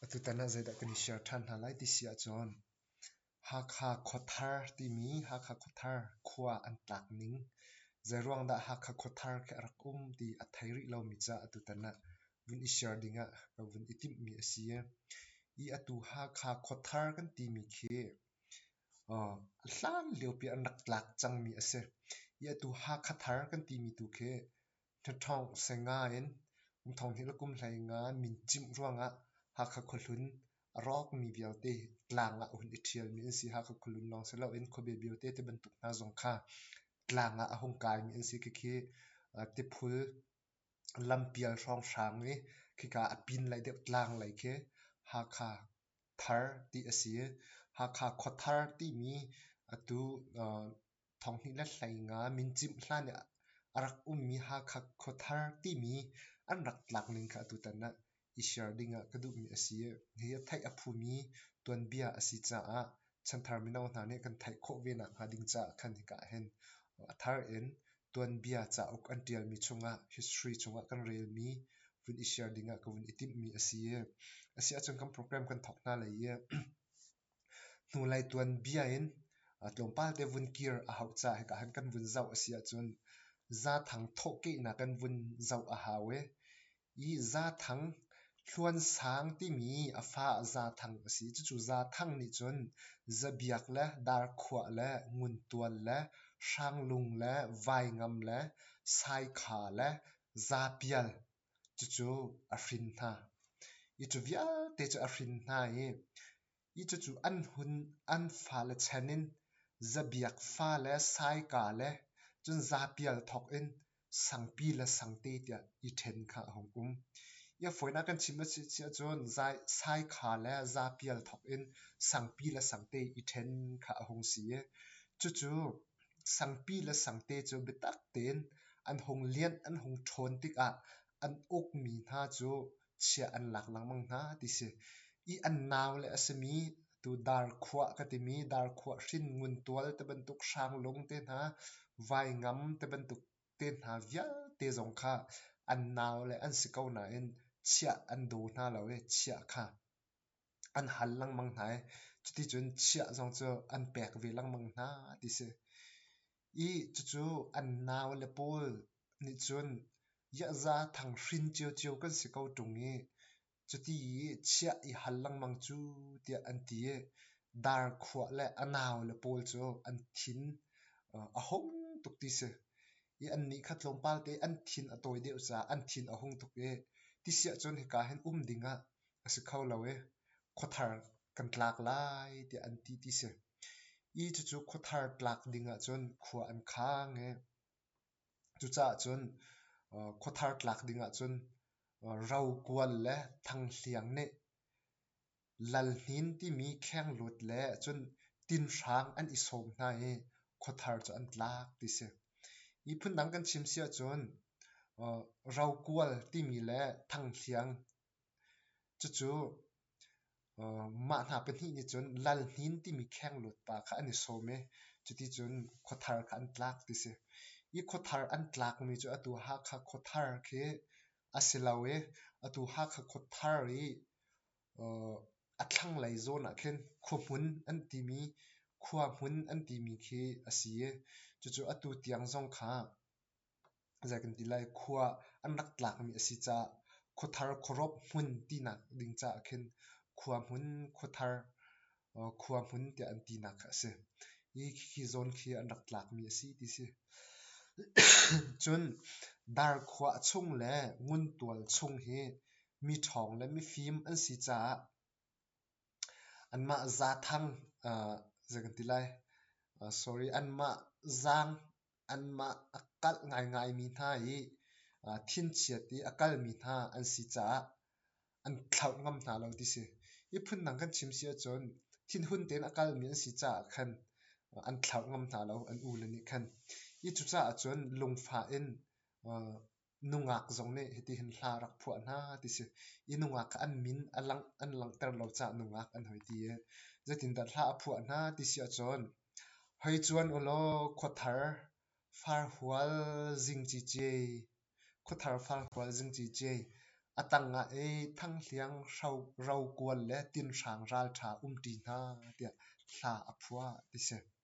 Atutan ah zeidah kan i share ṭhan hna lai ti si ahcun Hakha Khuathar timi Hakha Khuathar khua an tlak ning, zeiruang dah Hakha Khuathar khi a rak um ti a thei rih lomi ca atutan ah vun i share ding ah ka vun i timhmi a si. Hi atu Hakha Khuathar kan timi khi hlanlio pi an rak tlak cangmi a si. Hi atu Hakha Thar kan timi tu khi Ṭhaṭhawng seng ngaiin umthawng nih lakum hlei nga min cimh ruangah Hakha khuahlun a rawkmi vialte tlang ah a hun i ṭhialmi an si. Hakha khuahlun lawng si loin khuabe biote te bantuk hna zong kha tlang ah a hung kaimi an si. Khikhi tiphul lampial hrawnghrang i khika a pinlei deuh tlang lei khi Hakha thar ti a si. Hakha khuathar timi atu Thonghnih le hlei nga min cimh hlan i a rak ummi Hakha Khuathar timi an rak tlak ning kha atutan ah i share ding ah ka duhmi a si i hihi a theih a phumi tuanbia a si caah chanthar mino hna nih kan theih khawh ve nakhnga ding caah khan hika ahhin a thar in tuanbia cauk an ṭialmi chungah history chungah kan relmi vun i share ding ah ka vun i timhmi a si i a si ahcun kan program kan thawk hna lai i Hnulei tuanbia in tlawmpal te vun kir a hauh caah hika han kan vun zoh a si ahcun Zaathang thawhkehnak kan vun zoh a hau i i Zaathang Hluansang timi a fa Zaathang a si. Cucu Zaathang nih cun zabiak le darkhuah le nguntual le hrang lung le vaingam le saikha le zaapial Cucu a hrin hna. Itu vialte cu a hrin hna i, cucu an hun an fale chan in zabiak fale saika le cun zapial thawk in sangpi le sangte tiah i ṭhen kha a hung um. Hi a fawinak kan chim a si ahcun saikha le zapial thawk in sangpi le sangte i ṭhen kha a hung si i, cucu Sangpi le sangte cu biatak tein an hung lianh an hung ṭhawn tikah an ukmi hna cu chia an lak lengmang hna ti si. I an naule a simi atu Darkhuah ka timi Darkhuah hrinngun tual te bantuk hranglung te hna vaingam te bantuk te hna vialte zong kha an naule an si ko nain chiah an daw hna lo i chiah kha an hal lengmang hna i cuticun chiah zong cu an pek ve lengmang hna ti si. I cucu an nau le pawl nih cun Iahza Thanghrin ciocio kan si ko ṭung i cuti i chiah i hal lengmang cu tiah an ti i dar khuah le a nau le pawl cu an thin a hung tuk ti si. I annih kha tlawmpal te an thin a tawi deuh caah an thin a hung tuk i ti siahcun hika hin um ding ah a si kho lo i khuathar kan tlak lai tiah an ti ti si. I cucu khuathar tlak ding ahcun khua an khang i cucaah cun khuathar tlak ding ahcun ro kual le thang hliang nih lal hnin timi kheng lut le cun tin hrang an i sawm hna i khuathar cu an tlak ti si. Hi phun dang kan chim si ahcun ro kual timi le thang hliang Cucu mah hna pahnih nih cun Lalhnin timi khengluat pa kha an i sawm i cuticun khuathar kha an tlak ti a si. Hi khuathar an tlakmi cu atu Hakha khuathar khi a si lo i atu Hakha khuathar i a thlanglei zawn ah khin khuahmun an timi khua hmun an timi khi a si i cucu atu tiang zong kha Zei kan ti lai, khua an rak tlakmi a si caah khuathar khuarawp hmun tinak ding caah khin khua hmun, khuathar, khua hmun tiah an tinak kha a si. Hi khi zawn khi an rak tlakmi a si ti si. Cun dar khua a chung le nguntual chung hi mi ṭhawng le mifim an si caah anmah zaathang, zei kan ti lai, sorry, anmah zaang anmah a kalh ngaingaimi hna i thinchiat i a kalmi hna an si caah an thlauh ngam hna lo ti si. Hi phundang kan chim si ahcun thinhun tein a kalmi an si caah khan an thlauh ngam hna lo an u le nih khan. Hi cucaah cun lungfah in nungak zong nih hitihin hla rak phuah hna ti si i nungak kha an min a lang, an langhter lo caah nungak an hoi ti i zeitindah hla a phuah hna ti si ahcun hoi cuan u law khuathar farhual zing ciciai khuathar farhual zing ciciai a tang ah i thanghliang rokual le tinhrang ralṭha um ṭi hna tiah hla a phuah ti si.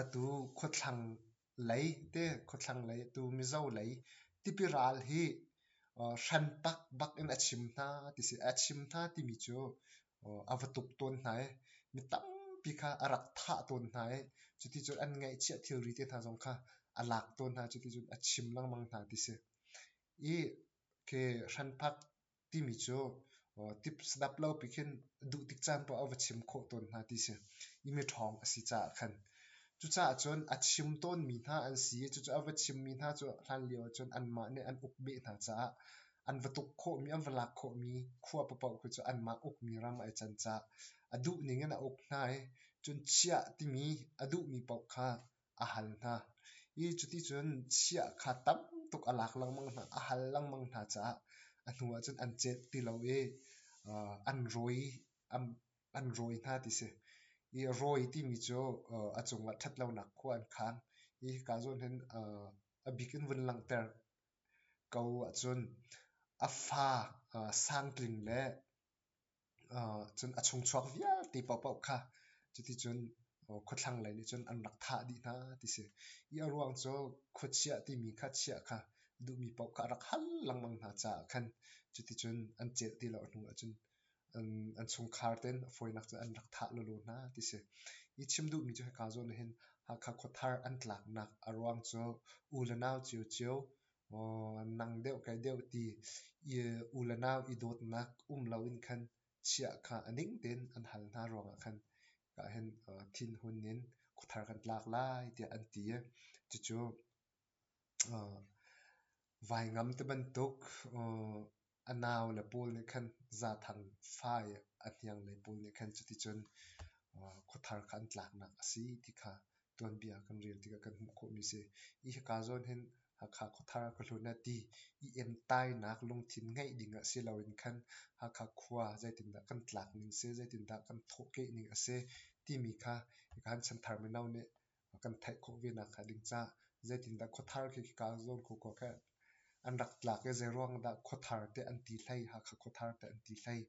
Atu khuathlanglei te khuathlanglei atu Mizo lei tipi ral hi hrantak bak in a chim hna ti si. A chim hna timi cu a va tuk tawn hna i mi tampi kha a rak thah tawn hna i cuticun an ngaihchiah thilri te hna zong kha a lak tawn hna. Cuticun a chim lengmang hna ti si. I khi hranpak timi cu tips dap lopi khin duh tik caan paoh ah va chim khawh tawn hna ti si. I miṭhawng a si caah khan. Cucaah cun a chim tawnmi hna an si i cucaah a va chimmi hna cu hlanlio ahcun anmah nih an ukbeh hna caah an va tuk khawhmi, an va lak khawhmi khua paoh khi cu anmah ukmi ram ai can caah a duh ning in a uk hna i cun chiah timi a duhmi paoh kha a hal hna i cuticun chiah kha tam tuk a lak lengmang hna a hal lengmang hna caah a hnu ah cun an cet ti lo i an rawi an rawi hna ti si i rawi timi cu a cungah ṭhatlonak khua an khaang i hika zawn hin a bik in vun langhter ko ahcun a fa sang tling le cun a chungchuak vialte paohpaoh kha cuticun khuathlang lei nih cun an rak thah dih hna ti si. Hi a ruang cu khuachiah timi kha chiah kha duhmi paoh kha a rak hal lengmang hna caah khan cuticun an celh ti lo hnu ahcun an chungkhar ten a fawinak cu an rak thah lawlaw hna ti si. Hi chim duhmi cu hika zawn ahhin Hakha khuathar an tlaknak a ruang cu u le nau cio cio maw nang deuh kai deuh ti i unau i dawtnak um loin khan chiah kha a ning tein an hal hna ruangah khan ka hen uh, thinhun in khuthar kan tlak lai tiah an ti i cucu uh, vai ngam te bantuk uh, a nau le pawl nih khan zathang fai a hniang lei pawl nih khan cuticun khuathar kha an tlaknak a si ti kha tuanbia kan rel tikah kan hmuh khawhmi a si. Hi hika zawn hin Hakha khuathar ah ka hlut eh ti i entainak lungthin ngeih ding a si loin khan Hakha khua zeitindah kan tlak ning si, zeitindah kan thawhkeh ning a si timi kha hika han chanthar mino nih kan theih khawh ve nak hnga ding cah zeitindah khuathar khi kaa zawn kho ko kheh an rak tlak i zeiruang dah khuathar te an ti hlei Hakha khuathar te an ti hlei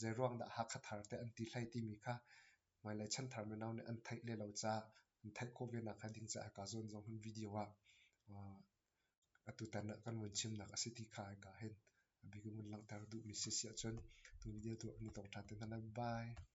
zeiruang dah Hakha thar te an ti hlei timi kha hmailei chanthar mino nih an theih le lo cah an theih khawh ve nak hnga ding cah kaa zawn zong hun video ah uh, atu tan ah kan vun chim nak a si ti kha ai ka hen abik mun langter duh mi si si ahcun tu video tu ni tong tha te hna bye